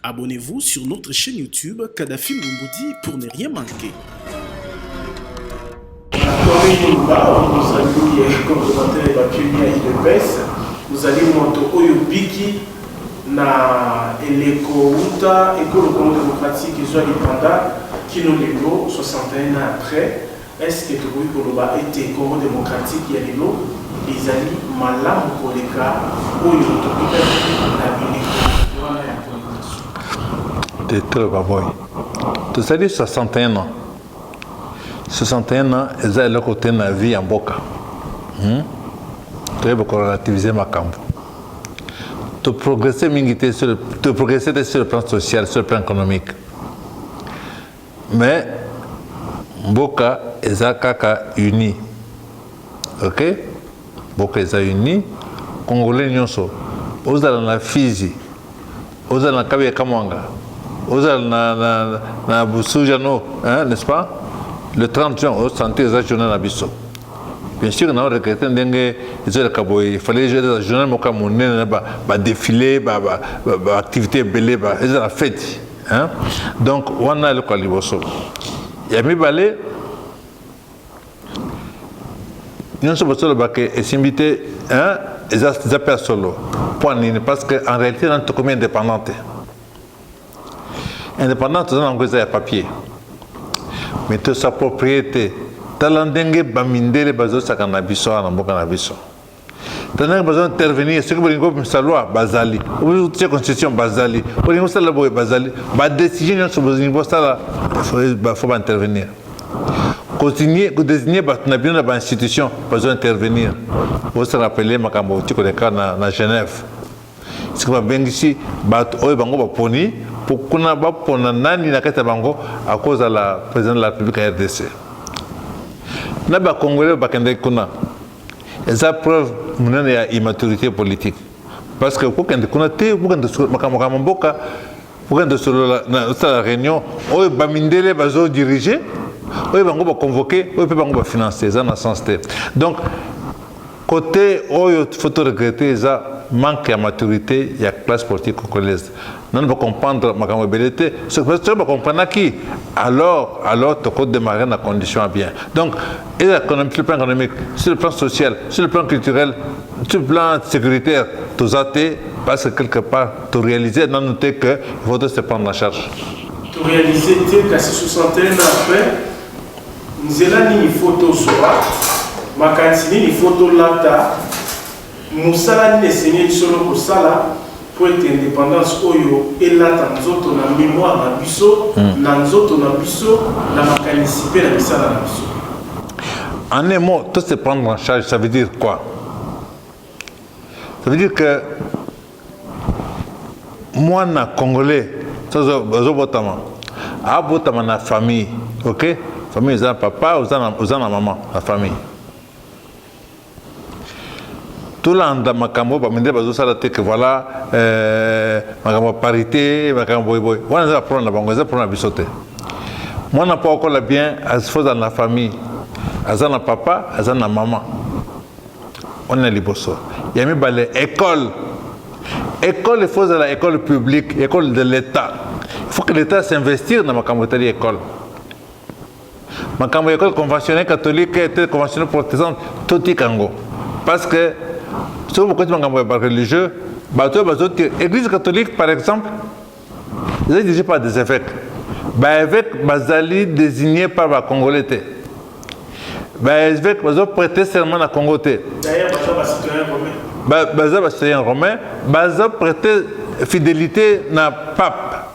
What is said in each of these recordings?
Abonnez-vous sur notre chaîne YouTube Kadhafi Mumboudi pour ne rien manquer. Vous allez monter au Yubiki na eleko uta ekolo congo démocratique ezwa lipanda kino lelo 61 ans après Est-ce que tokoki koloba ete Congo democratique ya lelo ezali malamu koleka oyo tokutaki na bileko wana ya colonisation? Directeur Baboy, tozali 61 ans. 61 ans eza eloko te na vie ya mboka. Hmm? Toyeba ko relativiser makambo. To progresser mingi te sur to progresser te sur le plan social, sur le plan économique. mais mboka eza kaka uni ok mboka eza uni congolais nyonso ozala na fizi ozala na kabe ya kamwanga ozala na, na, na busujano hein, n'est-ce pas le 30 juin osantir eza journée na biso bien sûr na regrete ndenge ezoleka boye fallait ezala journal moko ya monene na badefile baactivité ebele ezala feti hein donc wana eloko ya liboso ya mibale nyonso bosolobaka esimbi te hein eza eza mpe ya solo mpo nini parce que en réalité nani tokomi indépendante indépendante toza nango eza ya papier mais tosaproprié te tala ndenge bamindele bazosaka na biso awa na mboka na biso tanaka baza intervenir soki bolingi komisa loi bazali otie constitution bazali olingi osala boye bazali badecision nyonso bolingi bosala fo baintervenir continue kodesigne bato na bino na bainstitution bazo intervenir osala rapele makambo oti koleka na, na genève soki babengisi bato oyo bango baponi mpo kuna bapona nani na kati ya bango akozala président de la république ya rdc na bakongolais bakendeki kuna eza preuve monene ya immaturité politique parce que kokende kuna te kokende makambo makambo mboka kokende osolola na osala réunion oyo bamindele bazo dirige oyo bango baconvoke oyo mpe bango bafinance eza na sens te donc côté oyo faut to regrette eza manque ya maturité ya classe politique congolaise nanu bacomprendre makambo ebele te soki bacomprenaki alors alors toko démarrer na condition ya bien donc eza économique sur le plan économique sur le plan social sur le plan culturel sur le plan sécuritaire toza te parce que quelque part toréalise nanu te que faut se prendre en charge toréalise te kasi 61 après nzela nini faut tozwa makanisi nini faut tolata Mosala nini esengeli solo kosala mpo ete independance oyo elata nzoto na memoire na biso, na nzoto na biso, na makanisi mpe na misala na biso? En un mot, to se prendre en charge, ça veut dire quoi? Ça veut dire que mwana congolais azobotama abotama na famille ok famille eza na papa oza na mama na famille tolanda makambo oyo bamindele bazosala te ke voilà euh, makambo ya parité makambo boyeboye wana eza baproblème na bango eza problème na biso te mwana mpo akola bien faut azala na famille aza na papa aza na mama wana ya liboso ya mibale école école il faut ezala école publique école de l'état il faut que l'état s'investir na makambo etali école makambo ya ekole conventionnel catholique ete conventionnel protestant totika yango parce que soki bokoti makambo ya bareligieux bato oyo bazoki église catholique par exemple eza dirige par des évêques baévêque bazali désigné par bacongolais te baévêque bazo prêter serment na congo te baza bacitoyen romain bazo prêter fidélité na pape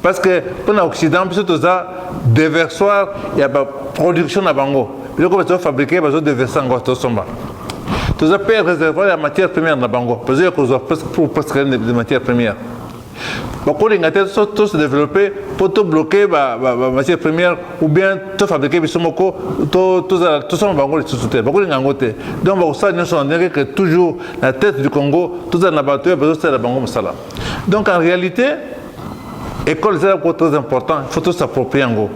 parce que mpo na occident biso toza deversoir ya baproduction na bango biloko bazo fabriquer bazo deverse yango tosomba toza mpe réservoir ya matière première na bango bazoya kozwa pour presque de matière première bakolinga te tose développe mpo tobloke bamatière première ou bien tofabrike biso moko tosomba bango lisusu te bakolinga yango te donc bakosala nyonso na ndenge ke toujours na tête du congo tozala na bato oyo bazosalela bango mosala donc en réalité École zela ko très important, faut tous s'approprier yango.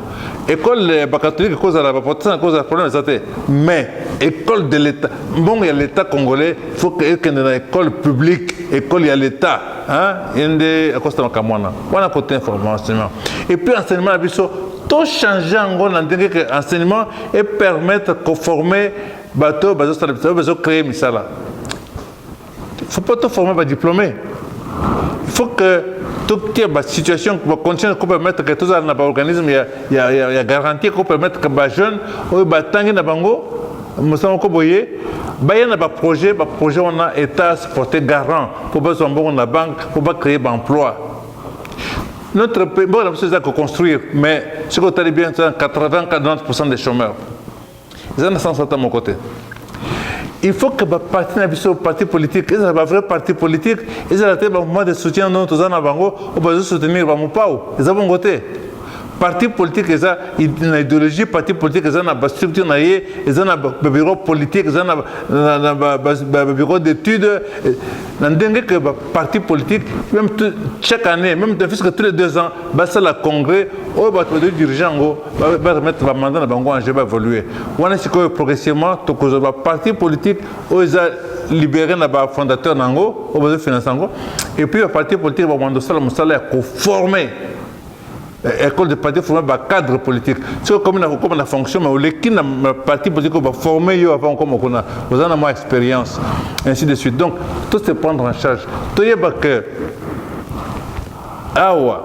École eh, ba catholique ko zala ba protestant ko zala problème zate. Mais école de l'état, bon ya l'état congolais, faut que ekende na école publique, école ya l'état, hein, yende akosta makamwana. Wana côté information. Et puis enseignement na biso to changer yango na ndenge ke enseignement et permettre ko former bato bazosala bazo créer misala Il faut pas tout former ba diplômés. Il faut que toute la situation, la condition qui permettre que tous les organismes, il y a, y a, y a garantie qui permettre que les jeunes, ou les tangi na bango, mosala ko boye baya na ba projet ba projet wana état se porter garant pour bazwa mbongo na banque pour ba créer ba emploi notre pays mboka na biso eza koconstruire mais soki otali bien eza 80 90 des chômeurs eza na sens ata moko te il faut que baparti na biso parti politique ezala bavrai parti politique ezala te bamouvement de soutien ndono toza na bango oyo bazo soutenir bamopao eza bongo te parti politique eza na idéologie parti politique eza na bastructure na ye eza na babiro politique eza na babiro d'étude na ndenge ke baparti politique même chaque année même puisque tous les deux ans basala congrès oyo bato bazo dirige yango ba remettre ba mandat na bango en jeu ba évoluer wana sikoyo progressivement tokozwa ba parti politique oyo eza libéré na ba fondateur na yango oyo bazo finance yango et puis ba parti politique bakomanda osala mosala ya koforme eh, école de parti forme ba cadre politique soki okomi na kokoma na fonction mais oleki na parti politique oyo baforme yo avant okoma kuna oza na mwa expérience ainsi de suite donc to se prendre en charge toyeba que awa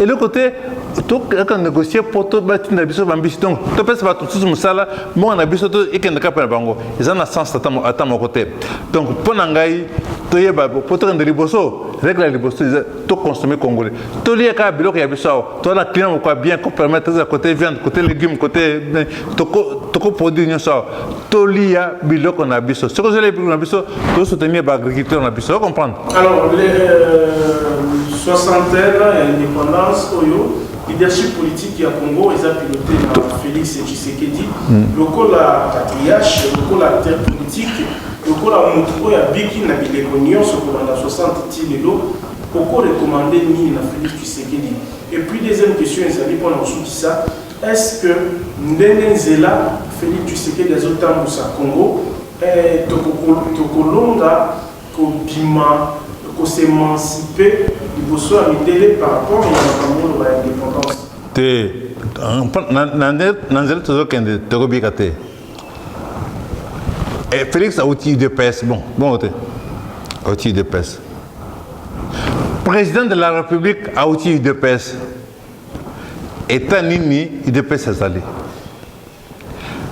eloko te tokaka négocier mpo tobatinda biso bambisi donc topesa bato mosusu mosala mbongo na biso ekende kaka mpe na bango eza na sens ata moko te donc mpo na ngai toyeba mpo tokende liboso regle ya liboso eza toconsomme congolais tolia kaka biloko ya biso awa toza na client moko ya bien copermetre eza cote viande cote légume cote tokoproduire nyonso awa toliya biloko na biso soki ozolya biloko na biso tosoutenir baagriculteur na biso ocomprendre alors les euh, soixantaine ya indépendance oyo leadership politique ya congo eza piloté na félix tshisekedi hmm. lokola patriarche lokola acteur politique lokola motu oyo abiki na bileko nyonso kolanda 60 ti lelo okorekomande nini na félix tshisekedi et puis deuxième question ezali mpona kosukisa Est ce que ndenge nzela Felix Tshisekedi azo tambusa Congo eh, toko longa ko bima ko s'emanciper liboso ya mindele par rapport ya makambo oyo ba indépendance te na nzela tozokende tokobika te e félix auti de pes bon bongo te auti de pes président de la république auti de pes etat nini udps azali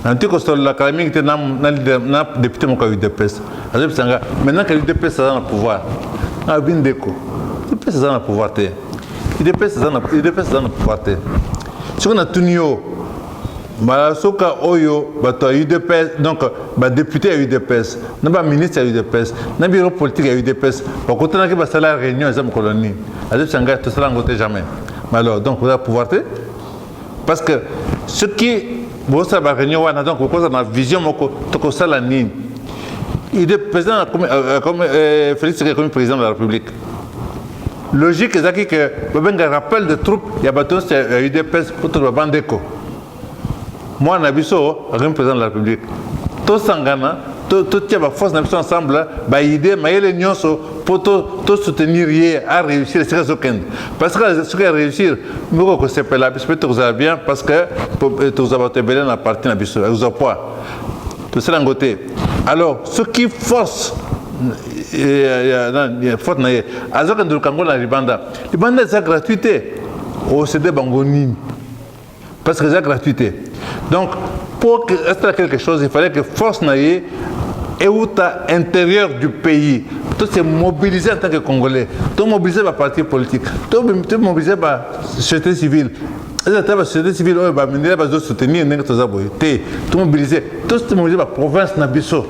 nanti kosolola kala mingi te na depute moko ya udps azobisa nga maintenant ke udps aza na pouvoir abi ndeko udps aza na pouvoir te udps aza na pouvoir te soki natuni yo mbala soka oyo bato ya udps donc badepute ya udps na baministre ya udps na biro politike ya udps bakutanaki basala réunion eza mokolo nini azebisa ngai tosala yango te jamais mais alors donc oza pouvoir te parce que soki bosala baréunion wana donc bokozala na vision moko tokosala nini ide président euh, euh, euh, félix seke ekomi président de la république Logique ezalaki que babenga rappel de troupe ya bato nyonso ya udps mpo toloba bandeko mwana na biso akomi président de la république tosangana totia baforce na biso ensemble baide mayele nyonso mpo tosoutenir ye aréussir esika azokende parce que soki aréussir moko kosepela biso mpe tokozala bien parce que tokozala bato ebele na parti na biso ekozwa poids tosala yango te alors soki force faute na ye aza kende lukango na libanda libanda eza gratuit te osede bango nini parce que eza gratuit te donc pour asala quelque chose il fallait que force na ye euta intérieur du pays to se mobiliser en tant que congolais to mobiliser baparti politique to mobiliser basociété civile eza ata basociété civile oyo bamindele bazo soutenir ndenge toza boye te tomobilise tomobilise baprovince na biso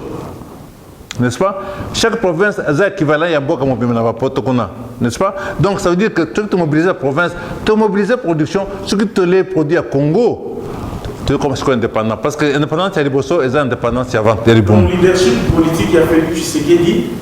n'est-ce pas chaque province aza équivalent ya mboka mobimba na bapoto kuna n'est-ce pas donc ça veut dire que soki tomobilise la province tomobilise production soki tolee produit ya congo toyokoma sikoyo indépendant parce que indépendance ya liboso eza indépendance ya vente ya libumu leadership politique ya félix tshisekedi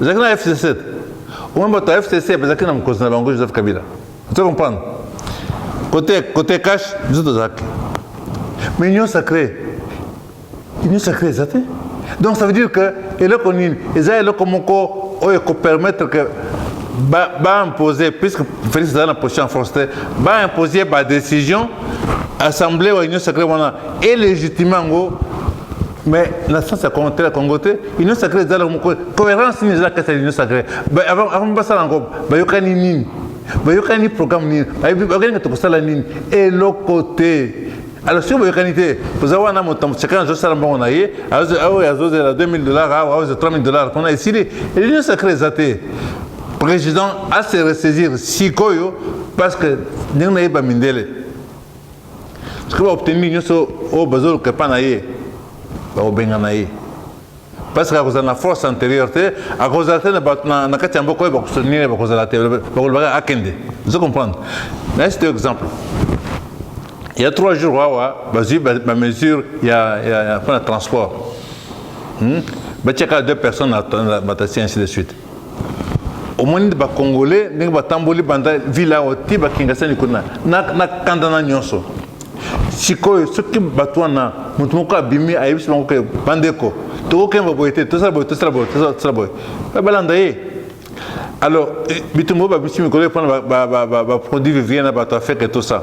ezalaki na fcc omoi bato ya fcc bazalaki na mokonzi na bango joseph kabila oza comprendre kote kote cash biso tozalaki mais union sacré union sacré eza te donc ça veut dire que eloko nini eza eloko moko oyo ekopermettre que baimposer ba puisque félix aza na position ya force te baimposer badécision assemblée wa union sacré wana élégitime yango mais na sens ya congo te union sacrée ezala moko cohérence nini ezala kati ya union sacrée avant basala yango bayokani nini bayokani programme nini bayokani kati kosala nini eloko te alors soki boyokani te oza wana moto chacun azosala mbongo na ye oyo azozela 2000 dollars awa oyo 3000 dollars kuna esili union sacrée eza te président ase ressaisir sikoyo parce que ndenge nayeba mindele soki baoptemi nyonso oyo bazoluka epa na ye bakobengana ye parceke akozala na force antérieure te akozala te na kati ya mboka oyo bakosoutenir ye bakozala te bakolobaka akende ozo comprendre nayesi to exemple ya trois jours awa bazwi bamesure mpona transport hmm? batiaka deux personnes na batasi ainsi de suite omoni nde bacongolais ndenge batamboli banda vile awa ti bakingasani kuna na kanda na nyonso sikoyo soki bato wana moto moko abimi ayebisi bango ke bandeko tokokemba boye te tosala boye tosala boye tosala boye balanda ye alors bitumba oyo babisi mikolo epona baproduit vivien na bato afeke tosa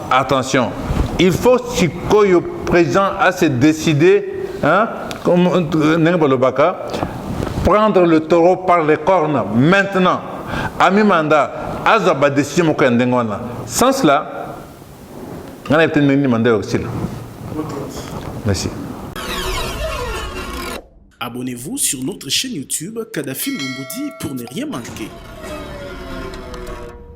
Attention, il faut sikoyo président à se décider hein, comme ndenge balobaka prendre le taureau par les cornes maintenant ami mandat azwa badécision moko ya ndenge wana sans cela ngai nayebi te ndenge nini mandat ya kosila merci Abonnez-vous sur notre chaîne YouTube Kadhafi Mbumbudi pour ne rien manquer.